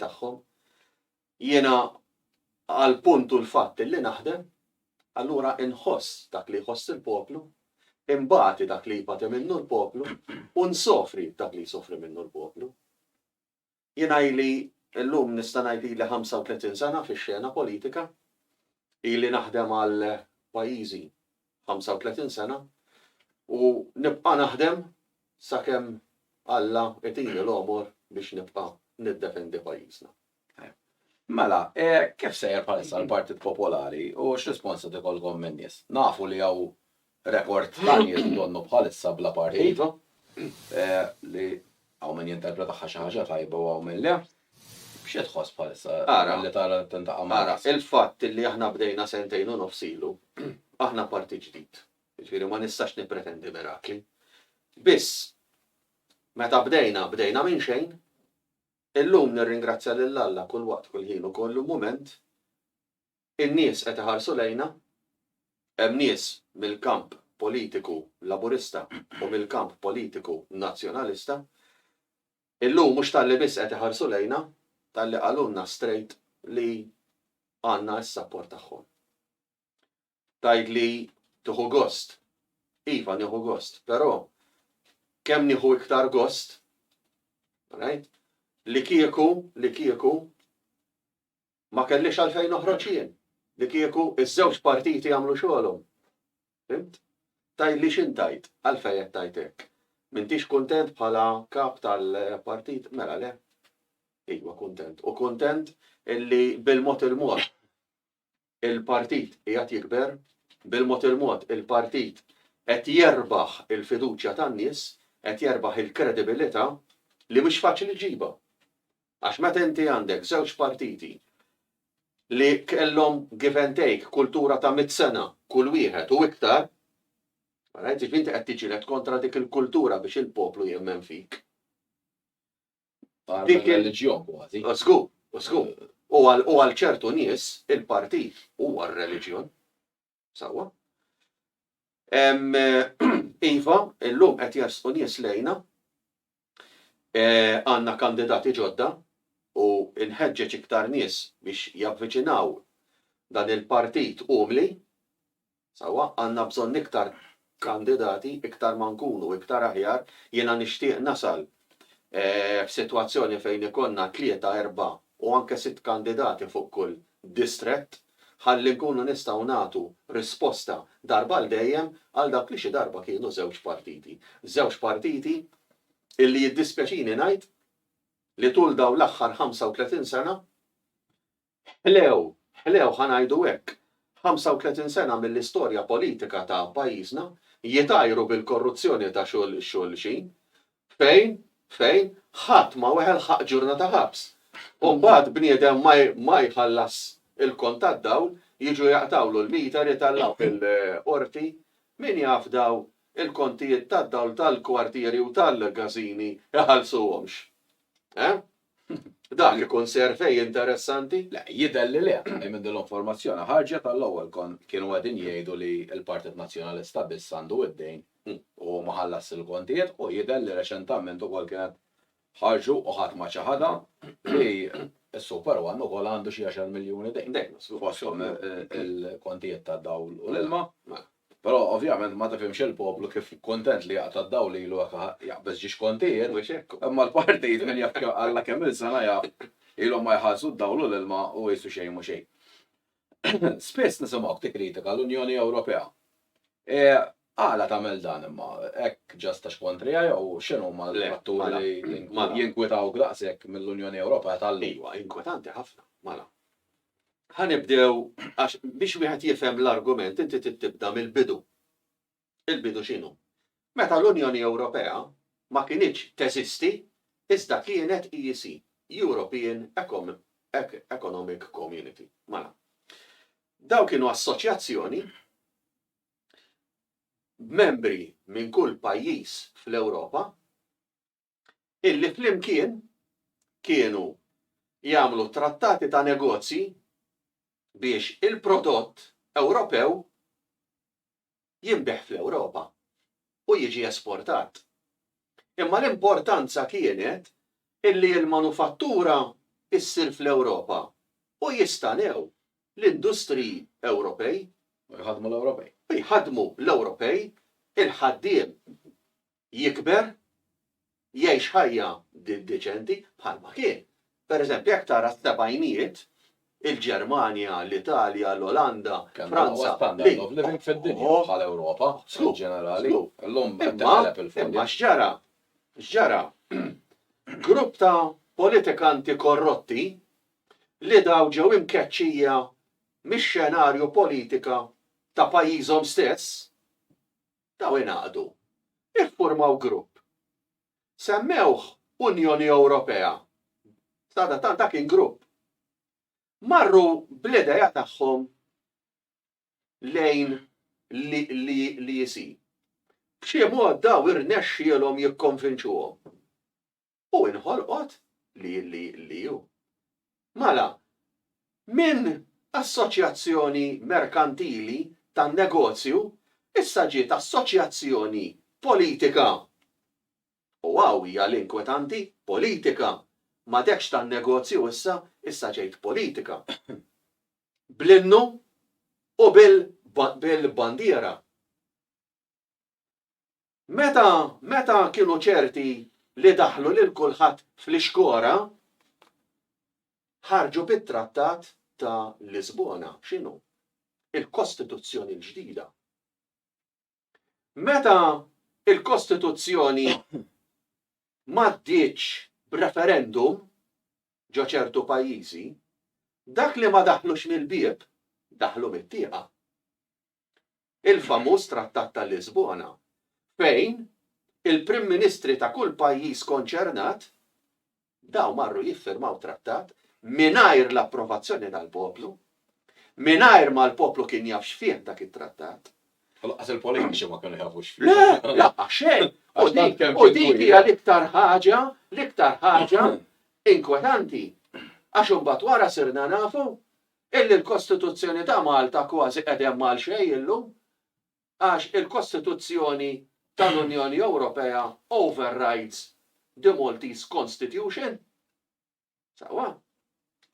tagħhom. Jiena għall-punt u l-fatt illi naħdem, allura inħoss dak li jħoss il-poplu, inbati dak li jbati minnu l-poplu u nsofri dak li jsofri minnu l-poplu. Jiena ili llum nista' ngħid ili 35 sena fix-xena politika, ili naħdem għal pajjiżi 35 sena u nibqa' naħdem sakemm Alla itini l-għomor biex nibqa' niddefendi pajjiżna. Mela, kif sejjer bħalissa l-Partit Popolari u x'rispons qed ikollkom min-nies? Nafu li hawn rekord ta' nies li donnu bħalissa bla partit li Hawn min jinterpra tagħha xi ħaġa tajba u hawn min le. Xi tħoss bħalissa billi tara tintaqa' ma' rasek? Ara, il-fatt li aħna bdejna sentejn u nofs ilu, aħna parti ġdid. Jiġifieri ma nistax nippretendi mirakli. Biss, meta bdejna, bdejna minn xejn. Illum nirringrazzja lil Alla kull waqt, kull ħin u kollu mument In-nies qed iħarsu lejna. Hemm nies mill-kamp politiku Laburista u mill-kamp politiku Nazzjonalista. Illum mhux talli biss qed iħarsu lejna, talli qalulna strejt li għandna s-sapport tagħhom. Tgħidli tieħu gost. Iva nieħu gost, però kemm nieħu iktar gost, right, li kieku, li kieku ma kellix għalfejn noħroġ jien, li kieku ż-żewġ partiti jagħmlu xogħolhom. Fimt? Tgħidli x'int tgħid, għalfejn qed tgħid hekk. M'intix kuntent bħala kap tal-partit? Mela le. Iva kuntent. U kuntent illi bil-mod il-mod il-partit qiegħed jikber, bil-mod il-mod il-partit qed jerbaħ il-fiduċja tan-nies, qed jerbaħ il-kredibilità li mhux faċli ġiba. Għax meta inti għandek żewġ partiti li kellhom give and take kultura ta' mitt sena kull wieħed u iktar, all right, jiġifieri inti qed tiġġieled kontra dik il-kultura biex il-poplu jemmen fik. Barra mir-reliġjon kważi. Żgur, żgur. U għal ċertu nies il-partit huwa r-reliġjon. Sewwa. Iva, illum qed jersqu nies lejna, għandna kandidati ġodda u nħeġġeġ iktar nies biex javviċinaw dan il-partit umli, sewwa, għandna bżonn iktar kandidati, iktar ma nkunu iktar aħjar, jiena nixtieq nasal f'sitwazzjoni fejn ikollna tlieta, erbgħa u anke sitt kandidati fuq kull distrett ħalli nkunu nistgħu nagħtu risposta darba għal dejjem għal dawk li xi darba kienu żewġ partiti. Żewġ partiti illi jiddispjaċini ngħid li tul dawn l-aħħar 35 sena Ħlew, ħlew, ħa ngħidu hekk, 35 sena mill-istorja politika ta' pajjiżna jitgħajru bil-korruzzjoni ta' xulxin, fejn, fejn, ħadd ma weħel ħaqq ġurnata ħabs. U mbagħad bniedem ma jħallas il-kont tad-dawl, jiġu jaqtgħulu l-meter, jitgħallaq fil-Qorti, min jaf daw il-kontijiet tad-dawl tal-kwartieri u tal-każini jħallsuhomx? Eh? Dan ikun survey interessanti? Le, jidher li le, għalkemm minn din l-informazzjoni ħarġet għall-ewwel kont kienu qegħdin jgħidu li l-Partit Nazzjonalista biss għandu id-dejn u hu ma ħallasx il-kontijiet u jidher li reċentament ukoll kienet ħarġu u ħadd ma ċaħadha li s-Super One ukoll għandu xi għaxar miljuni dejn. Dejn, żgur. Fosthom il-kontijiet tad-dawl u l-ilma. Però ovvjament ma tifhimx il-poplu kif kuntent li jaqta' d-dawl lilu hekk aha jaqbeż ġiex kontijiet, imma l-partit min jaf Alla kemm-il sena jaf ilhom ma jħallsu d-dawl u l-ilma u qisu xejn mhu xejn. Spiss nisimgħuk tikkritika l-Unjoni Ewropea. E għala tagħmel dan imma? Hekk just għax kontriha jew x'inhuma l-fatturi li jinkwitawk daqshekk mill-Unjoni Ewropea tal-lum? Iwa, inkwetanti ħafna, mala. Ħa nibdew għax biex wieħed jifhem l-argument inti trid tibda mill-bidu. Il-bidu x'inhu? Meta l-Unjoni Ewropea ma kinitx teżisti iżda kienet EEC, European Economic Community. Mela. Dawn kienu assoċjazzjoni b'membri minn kull pajjiż fl-Ewropa illi flimkien kienu jagħmlu trattati ta' negozji biex il-prodott Ewropew jinbiegħ fl-Ewropa u jiġi esportat. Imma l-importanza kienet illi l-manufattura issir fl-Ewropa u jistanew l-industriji Ewropej. U jħaddmu l-Ewropej. U jħaddmu l-Ewropej, il-ħaddiem jikber, jgħix ħajja deċenti bħalma kien. Per eżempju, jekk tara s-sebgħinijiet, il-Ġermanja, l-Italja, l-Olanda, Franza, l-Ewropa, in ġenerali, l-lum imma x'ġara? X'ġara? Grupp ta' politikanti korrotti li daw ġew imkeċċija mix-xenarju politika ta' pajjiżhom stess, Dawn ingħaqdu, iffurmaw grupp. Semmewh Unjoni Ewropea. Sadattant dak kien grupp. Marru bl-idea tagħhom lejn l-EC. B'xi mod dawn irnexxielhom jikkonvinċuhom. u inħolqot li li li u. Mala, minn assoċjazzjoni merkantili ta' negozju issa ġiet assoċjazzjoni politika. U hawn hija l-inkwetanti, politika. M'għadekx ta' negozju issa, issa ġejt politika. Bl-innu u bil-bandiera. Meta, meta kienu ċerti li daħħlu lil kulħadd fl-ixkora, ħarġu bit-Trattat ta' Lisbona. X'inhu? Il-Kostituzzjoni l-ġdida. Meta il-Kostituzzjoni m'għaddietx b'referendum ġo ċertu pajjiżi, dak li ma daħħlux mill-bieb, daħħlu mit-tieqa. il-famuż Trattat ta' Lisbona, fejn il-Prim Ministri ta' kull pajjiż konċernat, dawn marru jiffirmaw trattat mingħajr l-approvazzjoni tal-poplu, mingħajr ma l-poplu kien jaf x'fih dak it-trattat. U laqqas il-politiċi ma kienu jafu x'fih. Le, laqqas xejn. U dik hija l-iktar ħaġa, l-iktar ħaġa inkwetanti. Għax imbagħad wara sirna nafu Illi l-Kostituzzjoni ta' Malta kważi qed hemm għal xejn illum għax il-Kostituzzjoni tal-Unjoni Ewropea overrides the Maltese Constitution. Sewwa.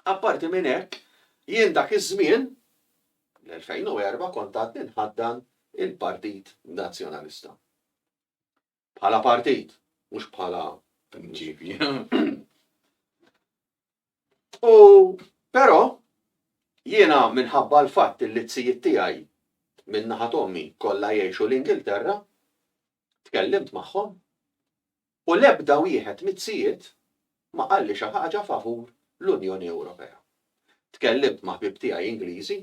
Apparti minn hekk, jien dak iż-żmien, l-2004, kont għadni nħaddan il-Partit Nazzjonalista. bħala partit, mhux bħala mġibi. U però jiena minħabba l-fatt li t-sijiet tiegħi minn naħa tommi kollha jgħixu l-Ingilterra, tkellimt magħhom u l-ebda wieħed mit-sijiet ma qalli xi ħaġa favur l-Unjoni Ewropea. Tkellimt ma' ħbieb tiegħi Ingliżi,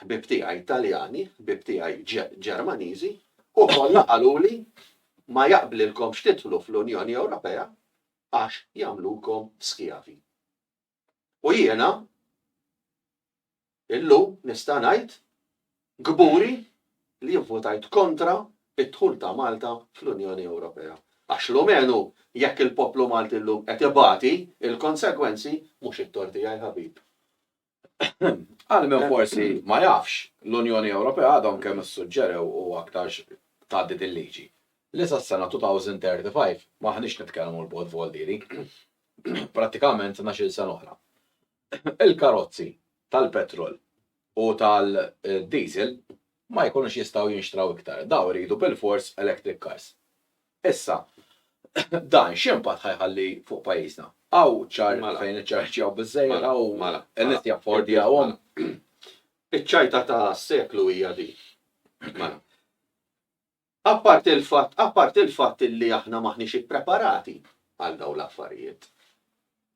ħbieb tiegħi Taljani, ħbieb tiegħi Ġermaniżi u kollha qaluli ma jaqblilkomx tidħlu fl-Unjoni Ewropea għax jagħmlukom skjavi. U jiena Illum nista' ngħid kburi li jien votajt kontra d-dħul ta' Malta fl-Unjoni Ewropea għax l-umenu jekk il-poplu Malti llum qed ibati l-konsegwenzi mhux it-tort tiegħi ħabib. Għal min forsi ma jafx, l-Unjoni Ewropea għadhom kemm issuġġerew u aktarx tgħaddi din liġi li sas-sena 2035 m'aħniex nitkellmu l-bogħod voldieri, prattikament tnax-il sena oħra. Il-karozzi tal-petrol u tal-diesel ma jkunux jistgħu jinxtraw iktar. Dawn iridu bilfors electric cars. Issa, dan x'impatt ħa jħalli fuq pajjiżna? Hawn ċar fejn iċċarġjaw biżżejjed, hawn in-nies jaffordjawhom? Iċ-ċajta tas-seklu hija din. Apparti l-fatt, apparti l-fatt illi aħna m'aħniex ippreparati għal dawn l-affarijiet.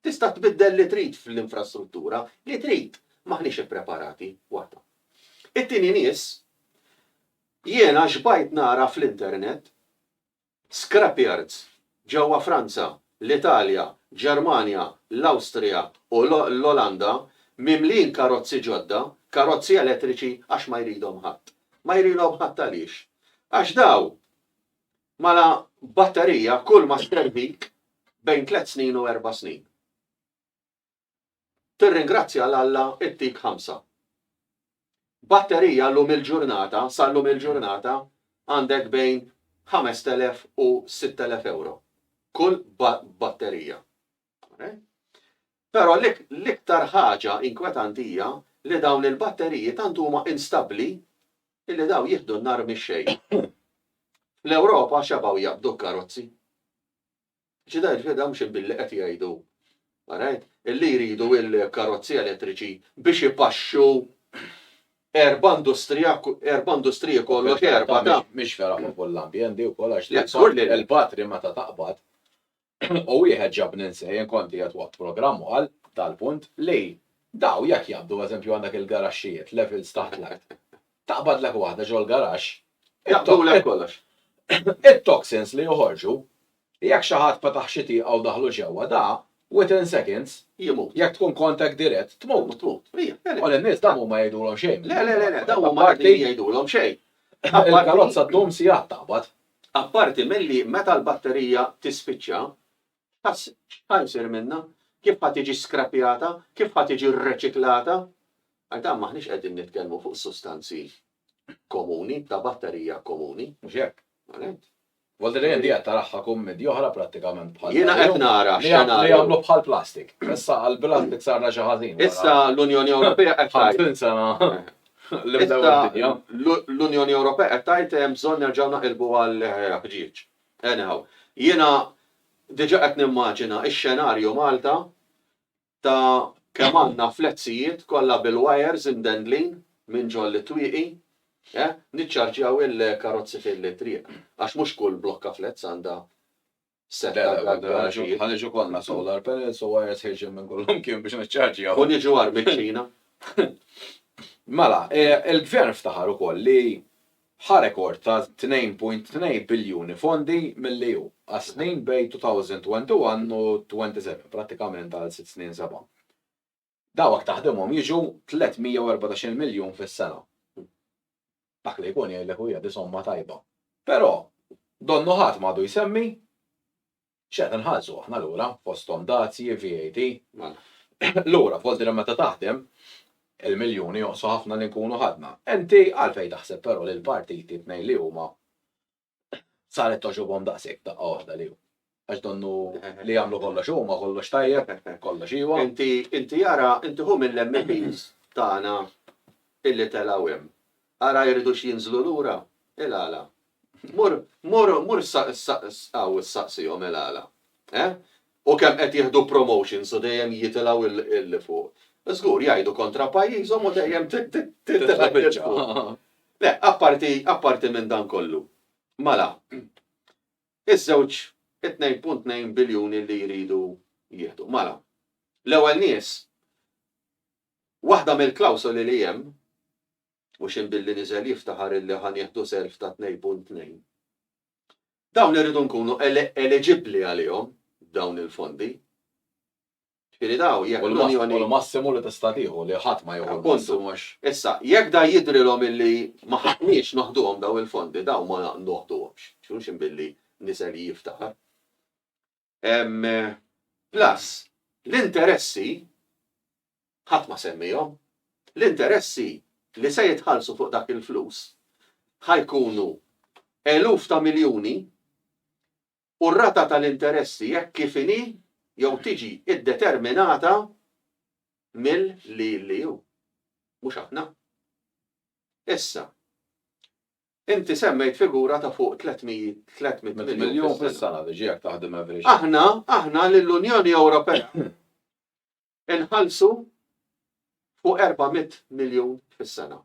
Tista' tbiddel li trid fl-infrastruttura li trid, m'aħniex ippreparati, waħda. It-tieni nies, jiena xbajt nara fl-internet scrapyards Ġewwa Franza, l-Italja, Ġermanja, l-Awstrija u l-Olanda mimlijin karozzi ġodda, karozzi elettriċi għax ma jridhom ħadd. Ma jridhom ħadd għaliex? Għax dawn mala batterija kulma sservik bejn tliet snin u erba' snin. Tirringrazzja 'l Alla ttik ħamsa. Batterija llum il-ġurnata, sa llum il-ġurnata, għandek bejn 5,000 u 6,000 ewro. Kull batterija. Però l-iktar ħaġa inkwetanti hija li dawn il-batteriji tant huma instabbli illi daw jieħdu n-nar mix-xejn. Fl-Ewropa xebgħu jaqbdu karozzi. Ġidher li dawn xi billi qed jgħidu, alright, li jridu l-karozzi elettriċi biex ipaxxu erba' industrija, erba' industriji kollox erba' ta'. Mhix vera favur l-ambjent di wkoll għax le, żgur li le. Il-batri meta taqbad u wieħed ġabni nsejh jien kont qiegħed waqt programm u qal dal-punt li dawn jekk jaqbdu eżempju għandek il-garaxxijiet, levels taħt l-art, Taqbadlek waħda ġol-garaxx. Jaqbdulek kollox. It-toxins li joħorġu, jekk xi ħadd fetaħ xi tieqa u daħlu ġewwa da, within seconds, jimut. Jekk tkun contact dirett, tmut. Tmut. U lin-nies dawn huma jgħidulhom xejn. Le, le, le, dawn huma qegħdin jgħidulhom xejn. Il-karozza ddum sigħat taqbad. Apparti milli meta l-batterija tispiċċa, X'ħa jsir minnha? Kif ħa tiġi skrapjata? Kif ħa tiġi rreċiklata? Għal dan m'aħniex qegħdin nitkellmu fuq sustanzi komuni, ta' batterija komuni. Mhux hekk? Għalhekk. Volta li qed qiegħed taraha kummedja oħra prattikament bħal. Jiena qed nara x'għana. Li jagħmlu bħal plastik. Issa għal plastik sarna xi ħażin. Issa l-Unjoni Ewropea qed tgħid. L-Unjoni Ewropea qed tgħid hemm bżonn nerġgħu naqilbu għal ħġieġ. Anyhow, jiena diġa qed nimmaġina x-xenarju Malta ta' kemm għandna flezzijiet kollha bil-wires imdendlin minn ġol it-twieqi, eh, niċċarġjaw il-karozzi fil-triq, għax mhux kull blokka flezz għandha sett ta' garaġijiet. Ħa niġu kollna solar panels u wires ħirġin minn kullimkien biex niċċarġjaw. U niġu għar miċ-Ċina. Mela, il-Gvern ftaħar ukoll li Ħa rekord ta' 2.2 biljuni fondi milli hu, għas-snin bejn 2021 u 27, prattikament għal sitt snin seba'. Dawk taħdimhom jiġu 314-il miljun fis-sena. Dak li jkun jgħidlek u hija di somma tajba. Però, donnu ħadd m'għadu jsemmi X'qed inħallsu aħna lura, fosthom dazji, VAT. Lura, f'Oltre li meta taħdem, il-miljuni jonqsu ħafna li nkunu ħadna. Inti għalfejn taħseb però li l-partiti t-tnejn li huma saret togħġobhom daqshekk daqqa waħda li hu? Għax donnu li jagħmlu kollox huma, kollox tajjeb, kollox iva. Inti ara, inti ħu mill-MEPs tagħna illi telgħu hemm. Ara jridux jinżlu lura? Il-għala? Mur, mur, mur issa, issa, issa u ssaqsihom il-għala. Eh? U kemm qed jieħdu promotions u dejjem jitilgħu il, il fuq. Żgur jgħidu kontra pajjiżhom u dejjem ti, ti, ti, titla' biċċa. Le, apparti, apparti minn dan kollu. Mala, iż-żewġ 2.2 biljuni li jridu jieħdu. Mala, l-ewwel nies Waħda mill-klawsoli li hemm, mhux in billi niżel jiftaħar illi ħa nieħdu self ta' tnejn punt tnejn. Dawn irridu nkunu eliġibbli għalihom dawn il-fondi. Ġifieri dawn jekk l-Unjoni. U l-massimu li tista' tieħu li ħadd ma jieħu l-massimu għax. Issa, jekk da jidhrilhom illi ma ħaqniex noħduhom dawn il-fondi, dawn ma noħduhomx. Mhux in billi niżel jiftaħar. Plus, l-interessi, ħadd ma semmiehom, l-interessi li se jitħallsu fuq dak il-flus ħa jkunu eluf ta' miljuni u r-rata tal-interessi hekk kif inhi jew tiġi ddeterminata mill-LLU. Mhux aħna. Issa, Inti semmejt figura ta' fuq 300 miljun fis-sena biex jekk taħdem average. Aħna, aħna lill-Unjoni Ewropea inħallsu fuq 400 miljun fis-sena.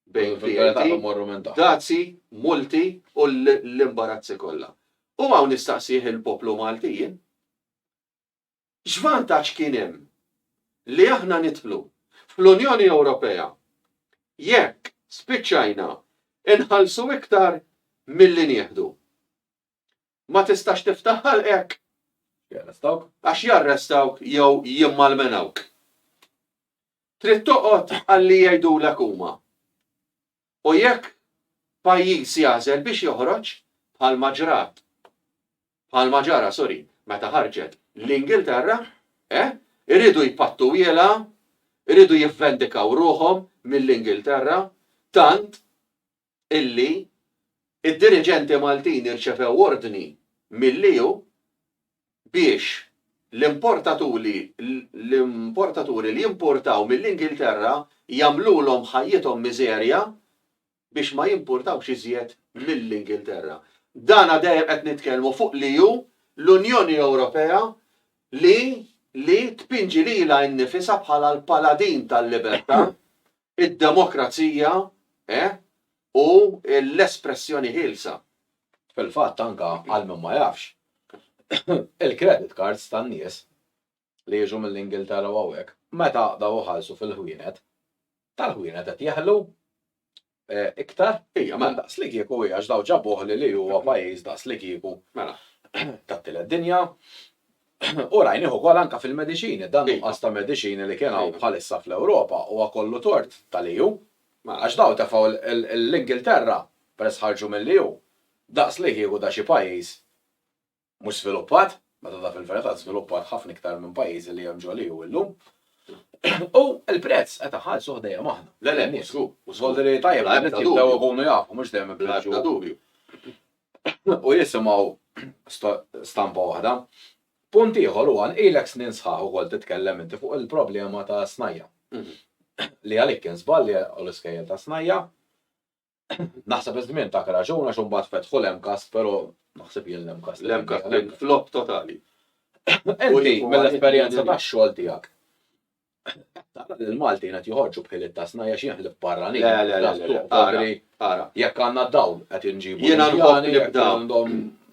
Bejn VAT, dazzi, multi u l-imbarazzi kollha. U hawn nistaqsih il-poplu Malti jien. X'vantaġġ kien hemm li aħna nidħlu fl-Unjoni Ewropea jekk spiċċajna nħallsu iktar milli nieħdu? Ma tistax tiftaħ ħalqek. Jarrestawk. Għax jarrestawk jew jimmalmenawk. Trid toqgħod għalli jgħidulek huma. U jekk pajjiż jagħżel biex joħroġ, bħalma ġrat, bħalma ġara, sorry, meta ħarġet l-Ingilterra, eh, iridu jpattu wielgħa, iridu jivvendikaw ruħhom mill-Ingilterra, tant illi d-diriġenti Maltin irċevew ordni mill-EU biex l-importatuli l-importaturi li jimpurtaw mill-Ingilterra jagħmlulhom ħajjithom miżerja biex ma jimpurtawx iżjed mill-Ingilterra. Dana dejjem qed nitkellmu fuq li hu l-Unjoni Ewropea li li tpinġi lilha nnifisha bħala l-paladin tal-libertà id-demokrazija u l-espressjoni ħielsa. Fil-fatt anke għal min ma jafx, il-credit cards tan-nies li jiġu mill-Ingilterra u hawnhekk meta daw iħallsu fil-ħwienet, tal-ħwienet qed jeħlu iktar. Ija, mela. Daqslikieku hi għax daw ġabuh li li huwa pajjiż daqslikieku tat-tielet dinja. U rajnih ukoll anke fil-mediċini, dan nuqqas ta' mediċini li kien hawn bħalissa fl-Ewropa huwa kollu tort tal-EU. Għax dawn tefgħu l-Ingilterra, peress ħarġu mill-EU, daqs li kieku ta' xi pajjiż mhux żviluppat, meta ta' fil-verità żviluppat ħafna iktar minn pajjiżi li hemm ġol-EU illum. U l-prezz qed iħallsuh dejjem aħna. Le le, mhux żgur. Mhux żgur. Jidher li tajjeb li n-nies jibdew ikunu jafu, mhux dejjem ibliet xi wħud. Bla ebda dubju. u jisimgħu stampa waħda. Punt ieħor huwa li ilek snin sħaħ ukoll titkellem inti fuq il-problema ta' Snajja'. Li għalik kien żball li għelqu l-iskejjel ta' Snajja'. Naħseb li żmien tak raġun għax imbagħad fetħu l-MCAST però naħseb jien l-MCAST. L-MCAST kien flop totali. Inti mill-esperjenza tax-xogħol tiegħek, Tara li l-Maltin qed joħorġu b'ħiliet ta' snajja għax jien ħlift barranin. Le, le, le, le, ara, ara. Jekk għandna dawl qed inġibu. Jiena nħobb nibda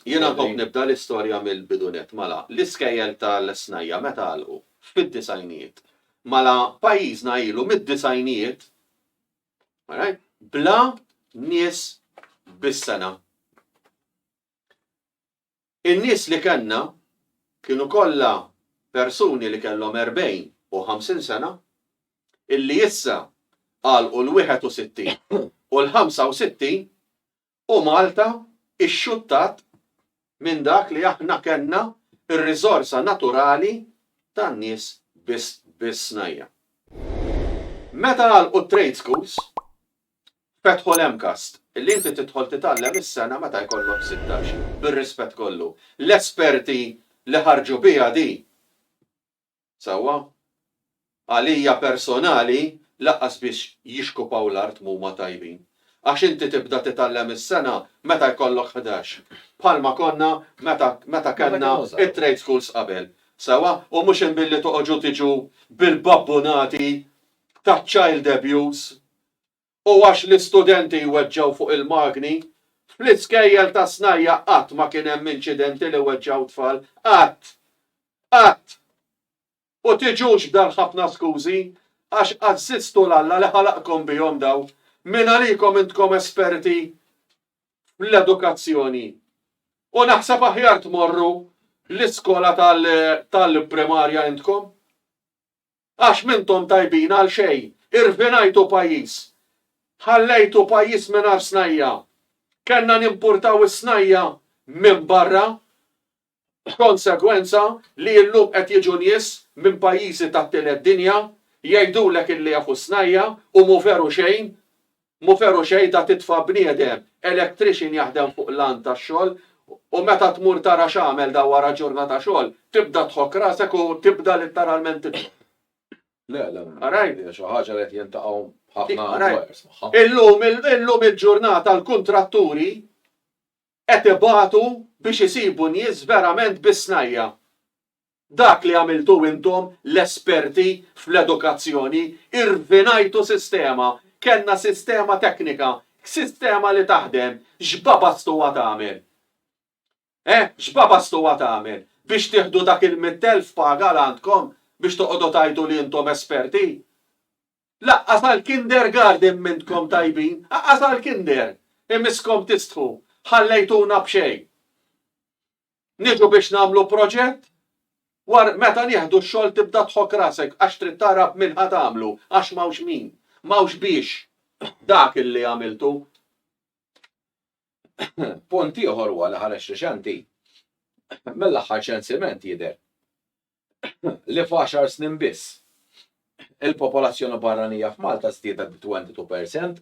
Jiena nħobb nibda l-istorja mill-bidunet mala. L-iskejjel tal-snajja meta għalqu? Fid-disgħinijiet. Mala pajjiżna ilu mid-disgħinijiet bla nies bis-sena. In-nies li kellna kienu kollha persuni li kellhom erbgħin u ħamsin sena, illi issa għalqu l-wieħed u sittin u l-ħamsa u sittin, u Malta xxuttat minn dak li aħna kellna r-riżorsa naturali tan-nies bis-snajja'. Meta għalqu t-trade schools, Fetħu l-MCAST, li inti tidħol titgħallem is-sena meta jkollok sittax, bir-rispett kollu. L-esperti li ħarġu biha di. Sewwa? Għalija personali lanqas biex jixkupaw l-art m'huma tajbin. Għax inti tibda titgħallem is-sena meta jkollok ħdax. Bħalma konna meta meta kellna t-trade schools qabel. Sewwa? U mhux imbilli toqogħġu tiġu bil-babbunati taċ-child abuse u għax l-istudenti jweġġgħu fuq il-magni, fl-iskejjel tas-snajja' qatt ma kien hemm inċidenti li weġġgħu tfal, qatt! Qatt! U tiġux b'dan ħafna skużi, għax għażżiztu 'l Alla li ħalaqkom bihom daw, mingħalikom intkom esperti fl-edukazzjoni. U naħseb aħjar tmorru l-iskola tal-primarja intkom. Għax m'intom tajbin għal xejn, irvinajtu pajjiż. Ħallejtu pajjiż mingħajr snajja'. Kellna nimpurtaw is-snajja' minn barra, b'konsegwenza li illum qed jiġu nies minn pajjiżi tat-tielet dinja jgħidulek illi jafu s-snajja' u mhu veru xejn. Mhu veru xejn ta' titfa' bniedem, electrician jaħdem fuq l-għand tax-xogħol u meta tmur tara x'għamel da wara ġurnata xogħol, tibda tħokk rasek u tibda litteralment tidħok. Le, le, hija xi ħaġa li qed jiltaqgħu ħafna employers magħha. Illum, illum il-ġurnata l-kuntratturi qed ibatu biex isibu nies verament bis-snajja'. Dak li għamiltu intom, l-esperti fl-edukazzjoni, irfinajtu sistema, kellna sistema teknika, sistema li taħdem, x'baba stuha tagħmel? Eh, x'baba stuha tagħmel? Biex tieħdu dak il-mitt elf paga l għandkom biex toqogħdu tgħidu li intom esperti? Lanqas għall-kindergarden m'intkom tajbin, anqas għall-kinder! Imisskom tistħu, ħallejtuna b'xejn. Niġu biex nagħmlu proġett? War meta nieħdu x-xogħol tibda tħokk rasek għax trid tara b'min ħa tagħmlu għax m'hawnx min. M'hawnx biex dak li għamiltu. Punt ieħor huwa li ħareġt riċenti mill-aħħar ċensiment jidher li f'għaxar snin biss il-popolazzjoni barranija f'Malta żdiedet b'22%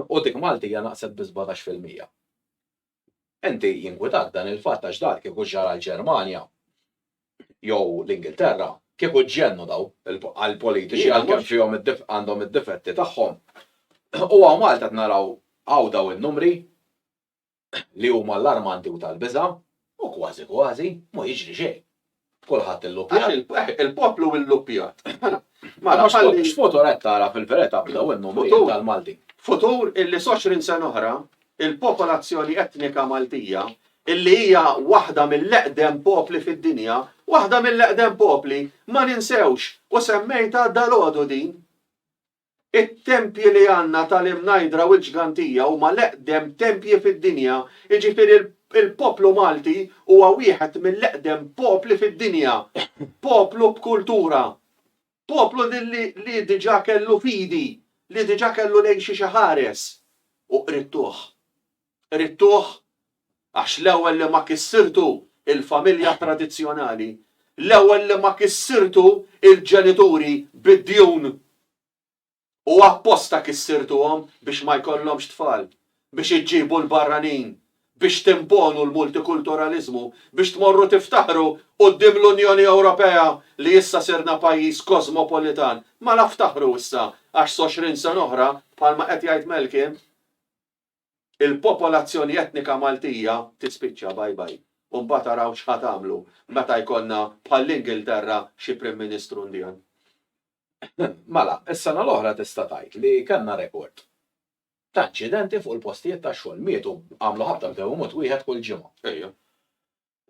u dik Maltija naqset bi 17%. Inti jinkwitak dan il-fatt għax dan kieku ġara l-Ġermanja jew l-Ingilterra, kieku ġġennu daw għall-politiċi għalkemm fihom għandhom id-difetti tagħhom. U hawn Malta qed naraw hawn daw in-numri li huma allarmanti u tal-biża' u kważi kważi ma jiġri xejn. Kulħadd illuppjat. Il-poplu illuppjat. Mela, x'futur qed tara fil-verità b'daw in-numri tal-Maltin? Futur illi s'20 sena oħra il-popolazzjoni etnika Maltija illi hija waħda mill-eqdem popli fid-dinja, waħda mill-eqdem popli, ma ninsewx, u semmejtha dalgħodu din, It-tempji li għandna tal-imnajdra u l-ġgantija huma l-eqdem tempji fid-dinja, jiġifieri l-poplu Malti huwa wieħed mill-eqdem popli fid-dinja, poplu b'kultura, poplu li diġà kellu fidi, li diġà kellu lejn xiex iħares u qridtuh. Ridtuh għax l-ewwel li ma kissirtu l-familja tradizzjonali, l-ewwel li ma kissirtu l-ġenituri bid-djun u apposta kissirtuhom biex ma jkollhomx tfal, biex iġġibu l-barranin, biex timponu l-multikulturaliżmu, biex tmorru tiftaħru quddiem l-Unjoni Ewropea li issa sirna pajjiż kosmopolitan. Mela ftaħru issa għax s' għoxrin sena oħra, bħalma qed jgħid Malcolm, il-popolazzjoni etnika Maltija tispiċċa bye bye u mbagħad araw x'ħa tagħmlu meta jkollna bħall-Ingilterra xi Prim Ministru Indian. Mela, is-sena l-oħra tista' tgħid li kellna rekord ta' inċidenti fuq il-postijiet tax-xogħol. Mietu, għamlu ħabta bdew imut wieħed kull ġimgħa. Ejja.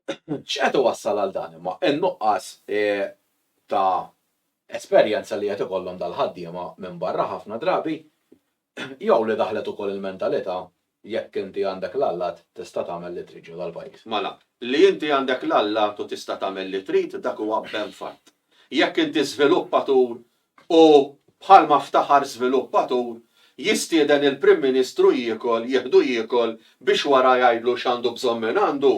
X'qed iwassal għal dan imma? In-nuqqas ta' esperjenza li qed ikollhom dal-ħaddiema minn barra ħafna drabi jew li daħlet ukoll il-mentalità jekk inti għandek l-allat tista' tagħmel li trid ġo dal-pajjiż. Mela, li inti għandek l-allat u tista' tagħmel li trid dak huwa ben fatt. Jekk inti żviluppatur u, bħalma ftaħar żviluppatur, jistieden il-Prim Ministru jiekol, jieħdu jiekol biex wara jgħidlu x'għandu bżonn mingħandu,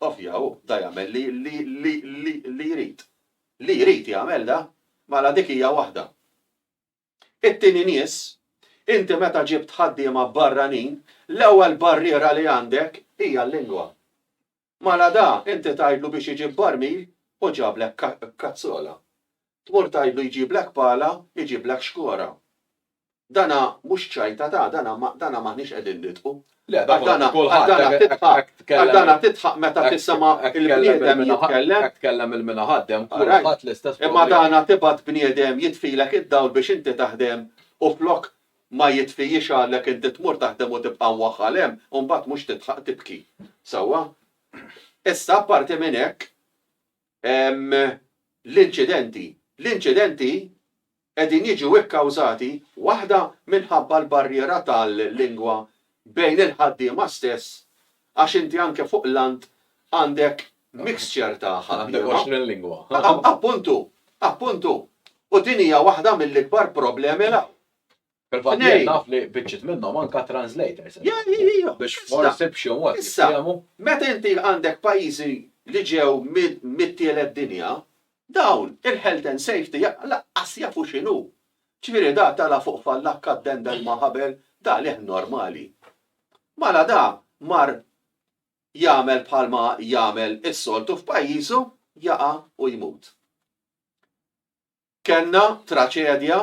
ovvja hu da jagħmel li li li li li jrid. Li jrid jagħmel da. Mela dik hija waħda. It-tieni nies, inti meta ġibt ħaddiema barranin, l-ewwel barriera li għandek hija l-lingwa. Mala da, inti tgħidlu biex iġib barmil u ġablek kazzola. Tmur tgħidlu jġiblek pala, iġiblek xkora. Dana mhux ċajta ta', dana ma, dana m'aħniex qegħdin nidħku. Le, da kulħadd, kulħadd, dana tidħaq, għax dana tidħaq meta tisimha' il-bniedem jitkellem. Hekk tkellem il-mina ħaddem, kulħadd l-istess. Imma dana tibgħat bniedem jitfilek id-dawl biex inti taħdem u flok, Ma jitfijiex għalhekk inti tmur taħdem u tibqa' mwaħħal hemm u mbagħad mhux tidħaq tibki. Sewwa? Issa apparti minn hekk hemm l-inċidenti. L-inċidenti qegħdin jiġu kkawżati waħda minħabba l-barriera tal-lingwa bejn il-ħaddiema stess għax inti anke fuq l-għand għandek mixture ta' ħaddiema. Appuntu! Appuntu! U din hija waħda mill-ikbar problemi l-hawn. Fil-fatt jien naf li biċċiet minnhom anke translators. Biex forsi b'xi mod jiftehmu. Meta inti għandek pajjiżi li ġew mit-tielet dinja, dawn il-health and safety laqqas jafu x'inhu. Ġifieri da tala' fuq fallakka ddendel ma' ħabel, da leħn normali. Mala da mar jagħmel bħalma jagħmel is-soltu f'pajjiżu, jaqa' u jmut. Kellna traċedja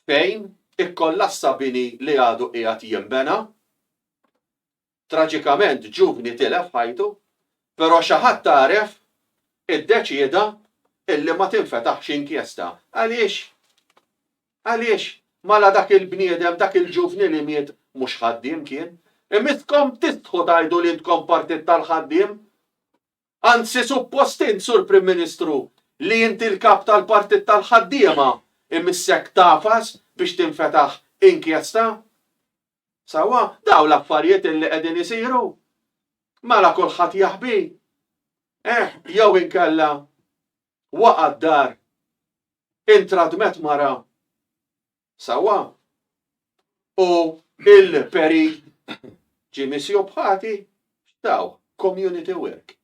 fejn ikkollassa bini li għadu qiegħed jinbena, Traġikament ġuvni tilef ħajtu, però xi ħadd għaref iddeċieda illi ma tinfetaħx inkjesta. Għaliex? Għaliex? Mala dak il-bniedem, dak il-ġuvni li miet mhux ħaddiem kien? Imisskom tistħu tgħidu li intkom partit tal-ħaddiem? Anzi suppost int, Sur Prim Ministru, li inti l-kap tal-partit tal-ħaddiema imissek tagħfas biex tinfetaħ inkjesta? Sewwa, dawn l-affarijiet illi qegħdin isiru. Mela kulħadd jaħbi. Eh, jew inkella waqa' d-dar intradmet mara. Sewwa. U il-peri ġie misjub ħati, x'taw, community work.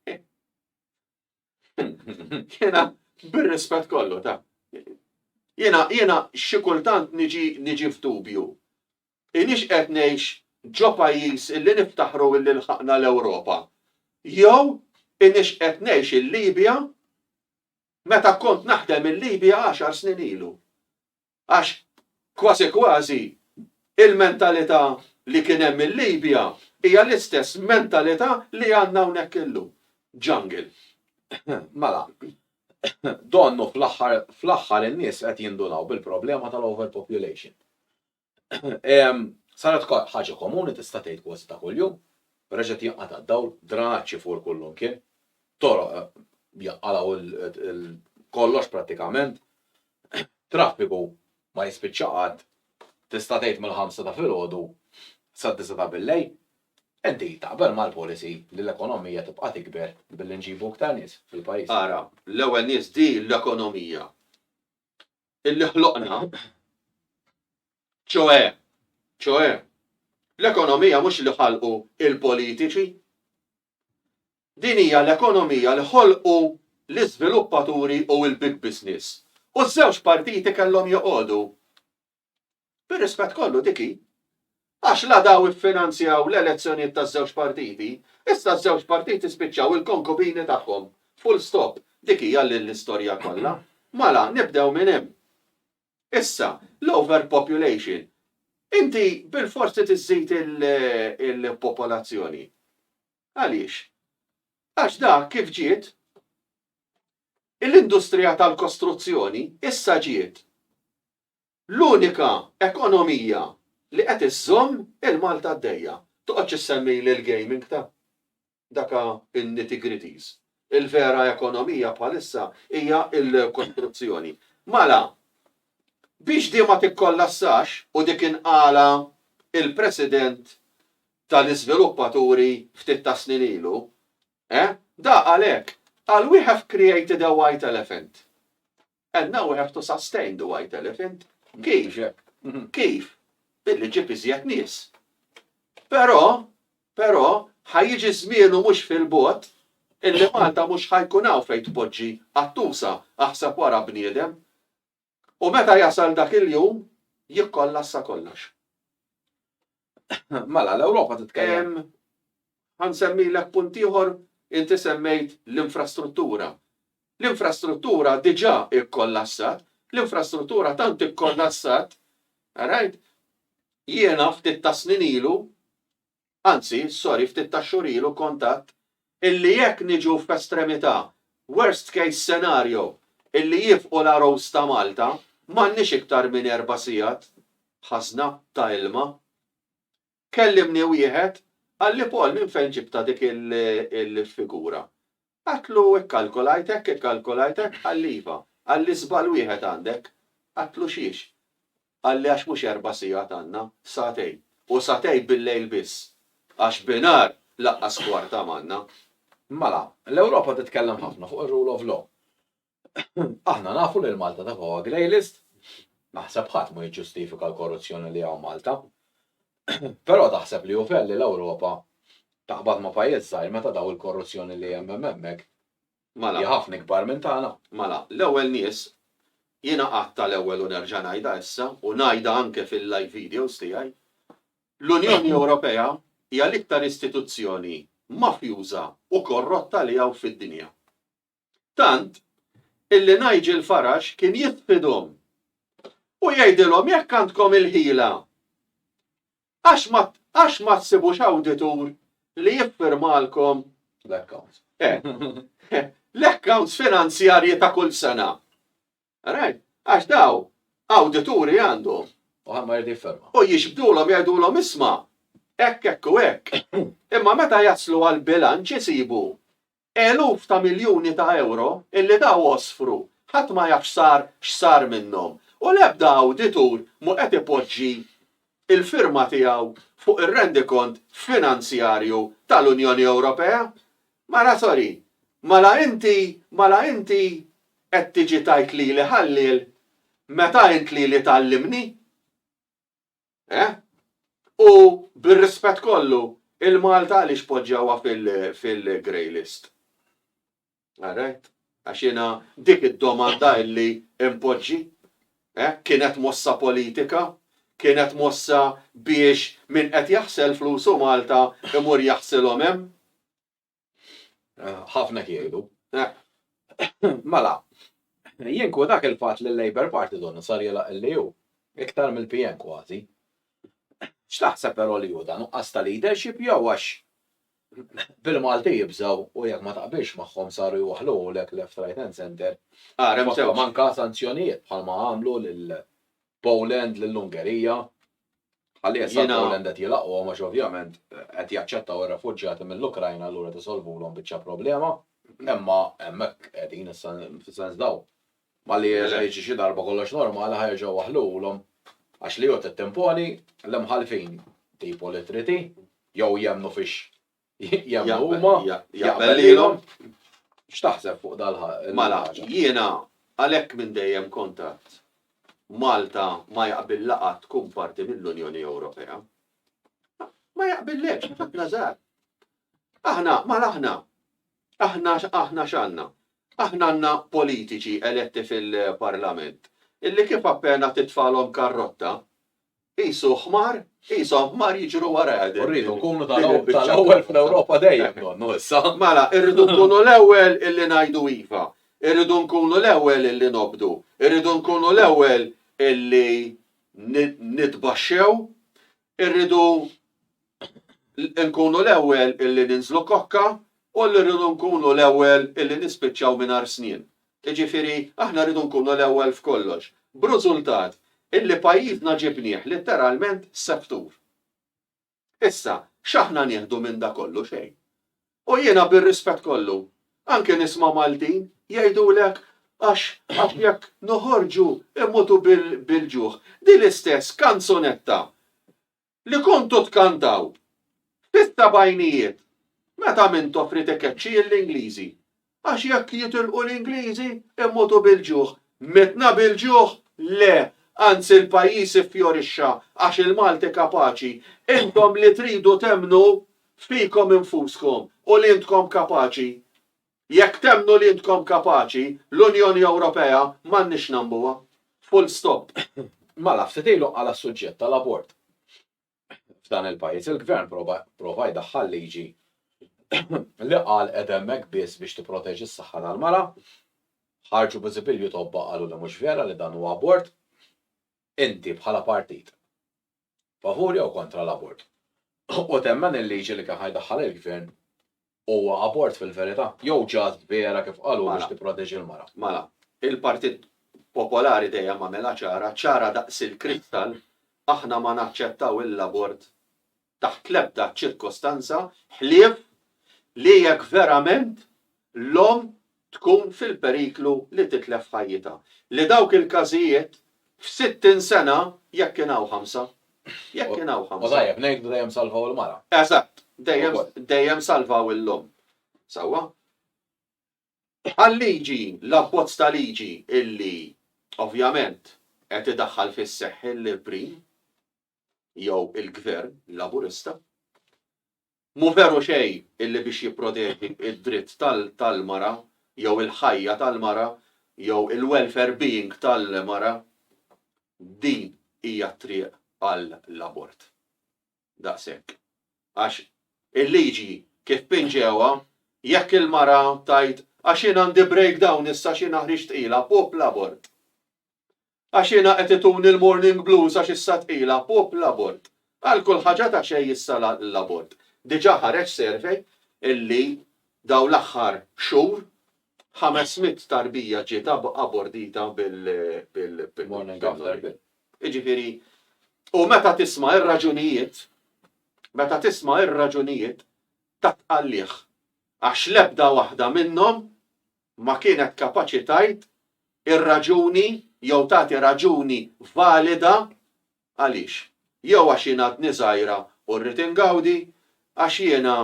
Jena, bir-rispett kollu ta' Jena, jena xi kultant niġi niġi f'dubju. Inix qed ngħix ġo pajjiż illi niftaħru illi lħaqna l-Ewropa. Jew inix qed ngħix il-Libja meta kont naħdem il-Libja għaxar snin ilu. Għax kważi kważi il-mentalità li kien hemm il-Libja hija l-istess mentalità li għandna hawnhekk illum. Jungle. Mela, donnu fl-aħħar fl-aħħar in-nies qed jindunaw bil-problema tal-overpopulation. Saret ħaġa komuni tista' tgħid kważi ta' kuljum, reġgħet jinqata' d-dawl, dranaġġ ifur kullimkien, toroq jaqalgħu kollox prattikament, Traffiku ma jispiċċa qatt, tista' tgħid mill-ħamsa ta' filgħodu sad-disa' ta' billejl. Inti taqbel mal-policy li l-ekonomija tibqa' tikber billi nġibu iktar nies fil-pajjiż? Ara, l-ewwel nies di l-ekonomija illi ħloqna, ċoe, ċoe, l-ekonomija mhux li ħalqu il-politiċi, Din hija l-ekonomija li ħolqu l-iżviluppaturi u l-big business. U ż-żewġ partiti kellhom joqogħdu. Bir-rispett kollu, dik hi. Għax la daw iffinanzjaw l-elezzjonijiet taż-żewġ partiti, issa ż-żewġ partiti spiċċaw il-konkubini tagħhom. Full stop. Dik hija l-istorja kollha. Mala, nibdew minn hemm. Issa, l-overpopulation. Inti bilfors trid iżżid il-popolazzjoni. Għaliex? Għax da kif ġiet l-industrija tal-kostruzzjoni issa ġiet l-unika ekonomija li qed iżżomm il-Malta għaddejja. Toqgħodx issemmili l-gaming ta'. daka n-nitty-gritties. Il-vera ekonomija bħalissa hija l-kostruzzjoni. Mala, biex di ma tikkollassax u dik inqalha il-President tal-iżviluppaturi ftit tas-snin ilu, eh, da qal hekk, qal we have created a white elephant. And now we have to sustain the white elephant. Kif? Kif? Billi ġġib iżjed nies. Però, però, ħajjiġi żmien u mhux fil-bogħod illi Malta mhux ħajkun hawn fejn tpoġġi qattusa aħseb wara bniedem. U meta jasal dak il-jum, jikkollassa kollox. Mela, l-Ewropa titkellem. Ħansemmilek punt ieħor, inti semmejt l-infrastruttura. L-infrastruttura diġà ikkollassat, l-infrastruttura tant ikkollassat, right? Jiena ftit ta' snin ilu, anzi, sorry, ftit ta' xhur ilu kontatt illi jekk niġu f'estremità, worst case scenario, illi jifqu l-ROs ta' Malta, m'għandniex iktar minn erba' sigħat ħażna ta' ilma. Kellimni wieħed, qalli Paul minn fejn ġibtha dik il-figura? Għadtlu ikkalkulajt hekk, ikkalkulajt hekk, qalli iva, qalli żball wieħed għandek. Għadtlu xiex? Qalli għax mhux erba' sigħat għandna, sagħtejn. U sagħtejn bil-lejl biss. Għax binhar laqqas kwarta m'għandna. Mela, l-Ewropa titkellem ħafna fuq ir-rule of law. Aħna nafu li l-Malta ta' fuqha grey list. Naħseb ħadd ma jiġġustifika l-korruzzjoni li hawn Malta. Però taħseb li hu fair li l-Ewropa taqbad ma' pajjiż żgħir meta daw il-korruzzjoni li hemm hemm hemmhekk Mela. Hi ħafna ikbar minn tagħna. Mela, l-ewwel nies, jiena għadtha l-ewwel u nerġa' ngħidha issa u ngħidha anke fil-live videos tiegħi, l-Unjoni Ewropea hija l-iktar istituzzjoni mafjuża u korrotta li hawn fid-dinja. Tant illi Nigel Farage kien jitfidhom u jgħidilhom jekk għandkom il-ħila Għax ma tsibux awditur li jiffirmalkom l-accounts. L-accounts finanzjarji ta' kull sena. Right? Għax daw, awdituri għandhom. U għamma jgħid jifferma. U jixbdulhom jgħidulhom isma' hekk hekk u hekk. Imma meta jaslu għal bilanċ isibu Eluf ta' miljuni ta' ewro illi daw osfru ħadd ma jaf x'sar x'sar minnhom u l-ebda awditur mhu qed ipoġġi l-firma tiegħu fuq ir-rendikont finanzjarju tal-Unjoni Ewropea. Mara sorry, mala inti mala inti qed tiġi tgħid lili ħalliel meta int lili tgħallimni? Eh? U bir-rispett kollu, il-Malta għaliex poġġawha fil-grey list? Alright? Għax jiena dik id-domanda illi impoġġi, eh? kienet mossa politika, kienet mossa biex min qed jaħsel flusu Malta imur jaħsilhom hemm. Ħafna kiegħdu. Mela, jien ku dak il-fatt li l-Labour Party donu sar jela illi hu, iktar mill-PN kważi. X'taħseb però li hu dan nuqqas ta' leadership jew għax bil-Malti jibżaw u jekk ma taqbilx magħhom saru jwaħħluhulek left right hand center. Ara, manka sanzjonijiet bħalma għamlu lil Poland, lil Ungerija. Ħalli issa Jiena- l-Poland qed jilagħquhom għax ovvjament qed jaċċettaw ir-refuġjati mill-Ukrajna allura qed isolvulhom biċċa problema. Imma hemmhekk qegħdin issa fis-sens dawn. Malli Mela. jerġa' jiġi xi darba kollox normali ħa jerġgħu waħħluhulhom għax li hu trid timponi l-imħallfin tipu li trid hi jew jemmnu fix Jemnu huma, jaqbel lilhom. X'taħseb fuq dal Mela, jiena għalhekk minn dejjem kontat Malta ma jaqbil laqat tkun parti mill-Unjoni Ewropea. Ma jaqbillekx, ħadna żgħar. Aħna, mal aħna. Aħna aħna x'għandna. Aħna għandna politiċi eletti fil-Parlament illi kif appena titfalhom karrotta Qisu ħmar, qishom ħmar jiġru warajha din. Rridu nkunu tal-ewwel fl-Ewropa dejjem donnu issa. Mela, irridu nkunu l-ewwel illi ngħidu iva. Irridu nkunu l-ewwel illi nobdu. Irridu nkunu l-ewwel illi nitbaxxew. Irridu nkunu l-ewwel illi ninżlu kokka u li rridu nkunu l-ewwel illi nispiċċaw mingħajr snien. Jiġifieri aħna rridu nkunu l-ewwel f'kollox, b'rużultat illi pajjiżna ġibnieh litteralment septur. Issa, x'aħna nieħdu minn da kollu? Xejn. U jiena bir-rispett kollu, anke nisma' Maltin jgħidulek għax għax jekk noħorġu immutu bil-ġuħ. Din l-istess kanzunetta Li kontu tkantaw fis-sebgħinijiet meta Mintoff ried ikeċċi lill-Ingliżi għax jekk jitilqu l-Ingliżi immutu bil-ġuħ. Mitna bil-ġuħ? Le, anzi l-pajjiż iffjorixxa għax il-Malti kapaċi. Intom li tridu temmnu fikom infuskom u li intkom kapaċi Jekk temmnu li intkom kapaċi, l-Unjoni Ewropea m'għandniex nagħmbuha. Full stop. Mala ftit ilu qala' s-suġġett tal-abort f'dan il-pajjiż, il-Gvern prova jdaħħal liġi li qal qegħda hemmhekk biss biex tipproteġi s-saħħa tal-mara, ħarġu biżibilju tobba qalu li mhux vera li dan huwa abort. Inti bħala partit favur jew kontra l-abort. U temmen il-liġi li kien ħajdaħħal il-gvern huwa abort fil-verità, jew ġast vera kif qalu biex mela. tipproteġi l-mara. Mela, il-Partit Popolari dejjem għamilha ċara, ċara daqs il-kristall, aħna ma naċċettaw l-abort taħt l-ebda ċirkostanza ħlief li jekk verament l-omm tkun fil-periklu li titlef ħajjitha, li dawk il-każijiet f'sittin sena, jekk kien hawn ħamsa, jekk kien hawn ħamsa. U tajjeb ngħidu dejjem salvaw il-mara. Eżatt, dejjem, dejjem salvaw il-omm. Sewwa? Għal-liġi, l-abbozz ta' liġi illi ovvjament qed idaħħal fis-seħħ il-Prim jew il-Gvern Laburista, Mhu veru xejn illi biex jipproteġi d-dritt tal-mara jew il-ħajja tal-mara jew il-welfare being tal-mara, din hija t-triq għall-abort. Daqshekk. Għax il-liġi kif pinġewha, jekk il-mara tgħid għax jien għandi breakdown issa xi naħriġ tqila, pup l-abort. Għax jiena qed ituni l-morning blues għax issa tqila, pup l-abort. Għal kull ħaġa ta' xejn issa l-abort. Diġà ħareġ survey illi dawn l-aħħar xhur ħames mitt tarbija ġiet abordita bil-morning after pill. Jiġifieri, u meta tisma' r-raġunijiet, meta tisma' r-raġunijiet tat-tqalligħ għax l-ebda waħda minnhom ma kienet kapaċi tgħid ir-raġuni jew tagħti raġuni valida għaliex. Jew għax jien għadni żgħira u rrid ingawdi, għax jiena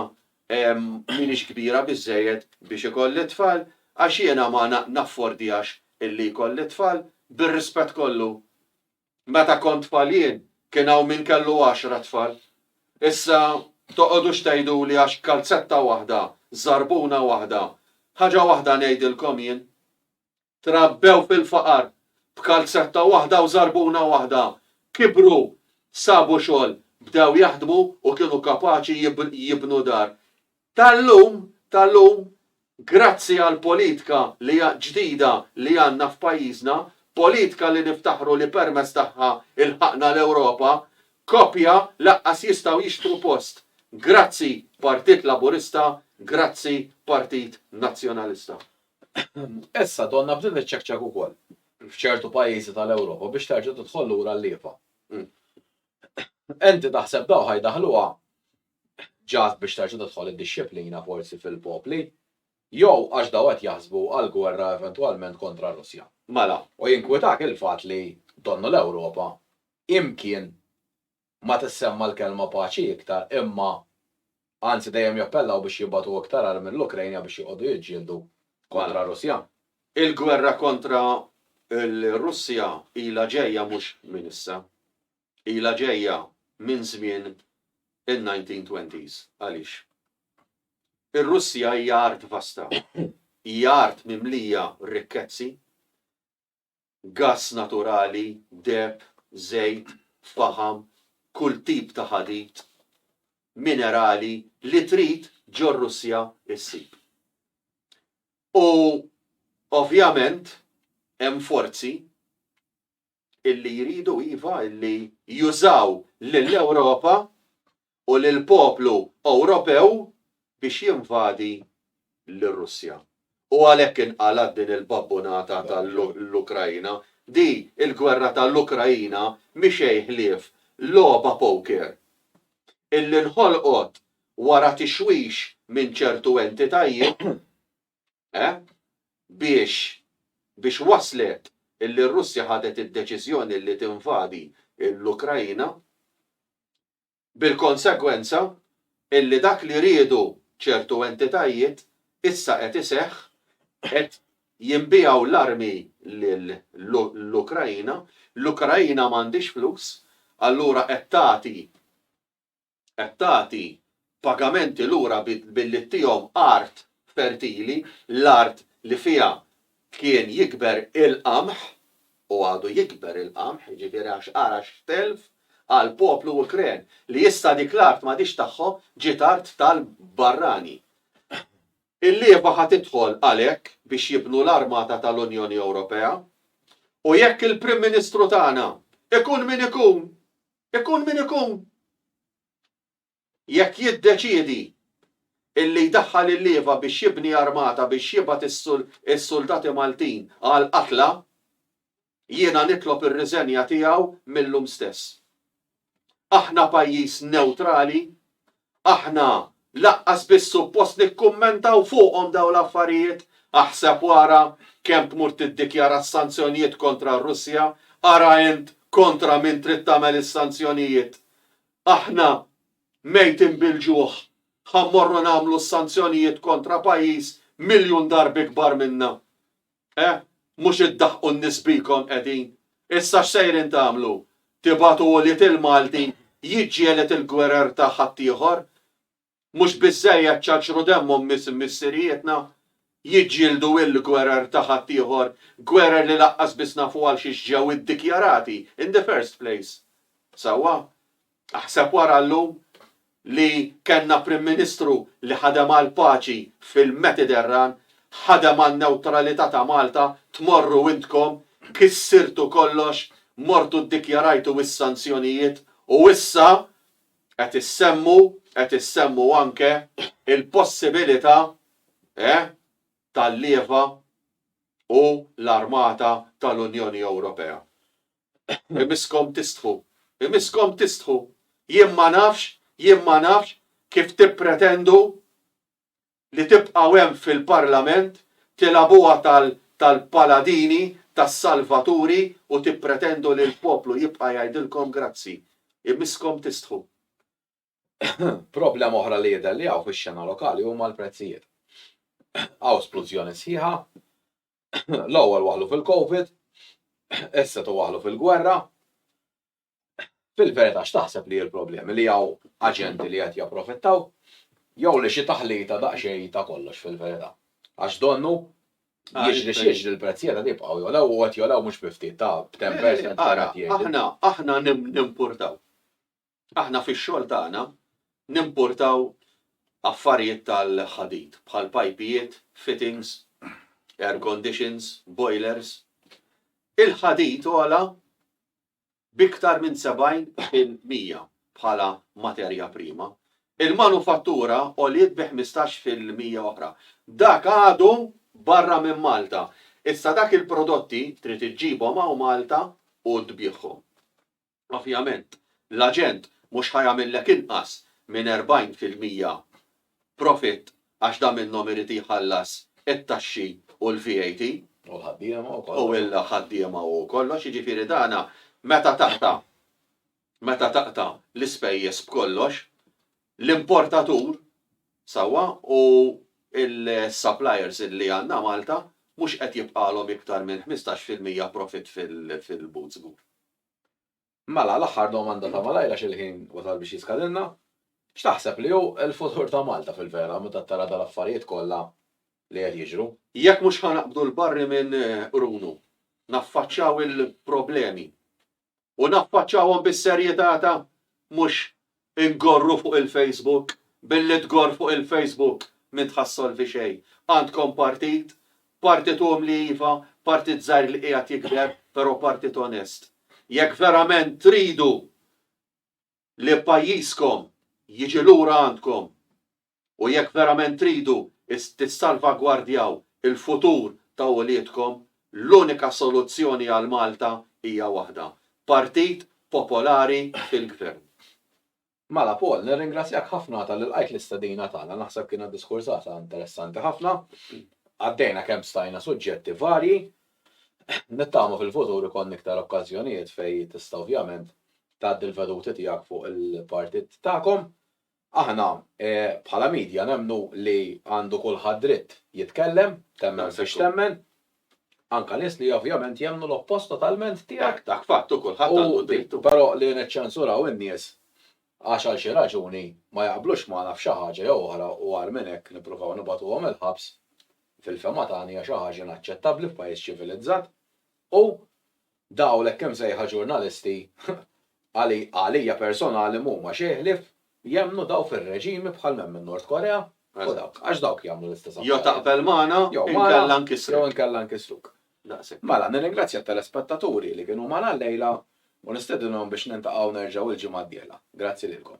m'iniex kbira biżżejjed biex ikolli t-tfal, għax jiena ma naffordihx illi jkolli t-tfal, bir-rispett kollu Meta kont tfal jien, kien hawn min kellu għaxra tfal. Issa toqgħodux tgħiduli għax kalzetta waħda, żarbuna waħda. Ħaġa waħda ngħidilkom jien. Trabbew fil-faqar, b'kalzetta waħda u żarbuna waħda. Kibru, sabu xogħol, bdew jaħdmu u kienu kapaċi jibnu dar. Tal-lum, tal-lum, grazzi għall-politka li hija ġdida li għandna f'pajjiżna, politka li niftaħru li permezz tagħha lħaqna l-Ewropa, koppja laqqas jistgħu jixtru post. Grazzi Partit Laburista, grazzi Partit Nazzjonalista. Issa donna bdiet niċċekċek ukoll f'ċertu pajjiżi tal-Ewropa biex terġa' tidħol lura l-lieva. Enti taħseb dawk ħa jdaħħluha ġagħat biex terġa' tidħol id-dixxiplina forsi fil-popli, jew għax dawn qed jaħsbu għal gwerra eventwalment kontra r-Russja? Mela, u jinkwitak il-fatt li donnu l-Ewropa imkien ma tissemma l-kelma paċi iktar imma anzi dejjem jappellaw biex jibgħatu iktar armi lill-Ukraina biex joqogħdu jiġġieldu kontra r-Russja? Il-gwerra kontra r-Russja ilha ġejja mhux minn issa. ilha ġejja minn żmien in-1920s. Għaliex? Ir-Russja hija art vasta, hija art mimlija rikkezzi, gass naturali, deheb, żejt, faħam, kull tip ta' ħadid, minerali, li trid ġor-Russja ssib. U ovvjament hemm forzi illi jridu iva illi jużaw lill-Ewropa u lill-poplu Ewropew biex jinvadi lir-Russja. U għalhekk inqalgħet din il-babbunata ta' l-Ukraina. Di l-gwerra ta' l-Ukraina mhi xejn ħlief logħba poker illi nħolqot wara tixwix minn ċertu entitajiet Eh? Biex, biex waslet illi r-Russja ħadet id-deċiżjoni illi tinvadi l-Ukraina, bil-konsegwenza illi dak li riedu ċertu entitajiet issa qed iseħħ, qed jinbiegħu l-armi lill-Ukraina, l-Ukraina m'għandhiex flus, allura qed tagħti qed tagħti pagamenti lura billi ttihom art fertili, l-art li fiha kien jikber il-qamħ, u għadu jikber il-qamħ, jiġifieri għax ara x'telf għall-poplu Ukren, li issa dik l-art m'għadhiex tagħhom, ġiet art tal-barrani. Il-lieva ħa tidħol għalhekk biex jibnu l-armata tal-Unjoni Ewropea, u jekk il-Prim Ministru tagħna, ikun min ikun, Ikun min ikun, jekk jiddeċiedi illi jdaħħal il-lieva biex jibni armata biex jibgħat is-suldati Maltin għall-qatla, jiena nitlob ir-riżenja tiegħu mil-lum stess. Aħna pajjiż newtrali Aħna laqqas biss suppost nikkummentaw fuqhom dawn l-affarijiet. Aħseb u ara kemm tmur tiddikjara s-sanzjonijiet kontra r-Russja, ara int kontra min trid tagħmel is-sanzjonijiet. Aħna, mejtin bil-ġuħ, ħa mmorru nagħmlu s-sanzjonijiet kontra pajjiż miljun darb ikbar minna. Eh, mhux iddaħħqu n-nies bikom qegħdin! Issa x'sejrin tagħmlu? Tibagħtu ulied il-Malti jiġġieled il-gwerer ta' ħaddieħor? Mhux biżżejjed ċaċru demmhom missirijietna jiġġieldu il-gwerer ta' ħaddieħor, gwerer li laqqas biss nafu għalxiex ġew iddikjarati in the first place? Sewwa, Aħseb wara llum li kellna Prim Ministru li ħadem għall-paċi fil-Metiterran, ħadem għan-newtralità ta' Malta, tmorru intkom, kissirtu kollox, mortu ddikjarajtu is-sanzjonijiet u issa qed issemmu, qed issemmu anke l-possibilità, eh, tal-lieva u l-armata tal-Unjoni Ewropea. Imisskom tistħu. Imisskom tistħu. Jien ma nafx, jien ma nafx kif tippretendu li tibqgħu hemm fil-Parlament tilagħbuha tal-paladini, tas-salvaturi u tippretendu li l-poplu jibqa' jgħidilkom grazzi. Imisskom tistħu. Problema oħra li jidher li hawn fix-xena lokali huma l-prezzijiet. Hawn splużjoni sħiħa, l-ewwel waħlu fil-Covid, issa tu waħlu fil-gwerra. Fil-verità x'taħseb li l-problemi li hawn aġenti li qed japprofittaw jew li xi taħlita daqsxejn ta' kollox fil-verità. Għax donnu jiġri x'jiġri l-prezzijiet qed jibqgħu jolew u qed jolew mhux bi ftit ta' b'temp Ara, aħna aħna nimpurtaw. Aħna fix-xogħol tagħna nimpurtaw affarijiet tal-ħadid bħal pajpijiet, fittings, air conditions, boilers. Il-ħadid għola b'iktar minn 70 fil-mija bħala materja prima. Il-manufattura għoliet bi 15 fil-mija oħra. Dak għadu barra minn Malta. Issa dak il-prodotti trid iġġibhom hawn Malta u tbiegħhom. Ovvjament, l-aġent mhux ħa jagħmillek inqas minn erbgħin fil-mija profitt għax da minnhom irid jħallas it-taxxi u l-VAT. U l-ħaddiema u kollox. U l-ħaddiema u kollox, jiġifieri dana meta taqta' meta taqta' l-ispejjeż b'kollox, l-importatur, sewwa, u l-suppliers li għandna Malta mhux qed jibqgħalhom iktar minn ħmistax fil-mija profitt fil-but żgur. Mela, l-aħħar domanda ta' malajr għax il-ħin wasal biex jiskadilna. X'taħseb li hu l-futur ta' Malta fil-vera meta tara dal-affarijiet kollha li qed jiġru? Jekk mhux ħa naqbdu l-barri minn qrunu, naffaċċaw il-problemi u naffaċċawhom bis-serjetà ta' mhux Inghorru fuq il-Facebook? Billi tghorr fuq il-Facebook m'int ħa ssolvi xejn. Għandkom partit, partit umli iva, partit żgħir li qiegħed jikber, però partit onest. Jekk verament tridu li pajjiżkom jiġi lura għandkom, u jekk verament tridu tissalvagwardjaw il-futur ta' uliedkom, l-unika soluzzjoni għal Malta hija waħda, Partit Popolari fil-Gvern. Mela Paul, nirringrazzjak ħafna talli lqajt l-istedina tagħna, naħseb kienet diskursata interessanti ħafna, għaddejna kemm stajna suġġetti varji, nittama fil-futur ikollna iktar okkażjonijiet fejn tista' ovvjament tgħaddi l-veduti tiegħek fuq il-Partit tagħkom, Aħna bħala media nemmnu li għandu kulħadd dritt jitkellem, temmen fiex temmen, anke nies li ovvjament jemmnu l-oppost totalment tiegħek. Dak fatt u kulħadd għandu d-dritt u. Però li niċċensuraw in-nies għax għal xi raġuni ma jaqblux magħna f'xi ħaġa jew oħra u agħar minn hekk nippruvaw nibgħatuhom il-ħabs, fil-fehma tagħna hija xi ħaġa inaċċettabbli f'pajjiż ċivilizzat u Daw l-hekk imsejħa ġurnalisti għalija personali mhuma xejn ħlief jemmnu daw fir-reġimi bħal m'hemm in-Nord Korea u dawk, għax dawk jagħmlu l-istess affarijiet. Jo taqbel magħna inkella nkissruk. Jew inkella nkissruk. Daqshekk. Mela, nirringrazzja t-telespettaturi li kienu magħna llejla u nistedinhom biex niltaqgħu nerġgħu l-ġimgħa d-dieħla. Grazzi lilkom.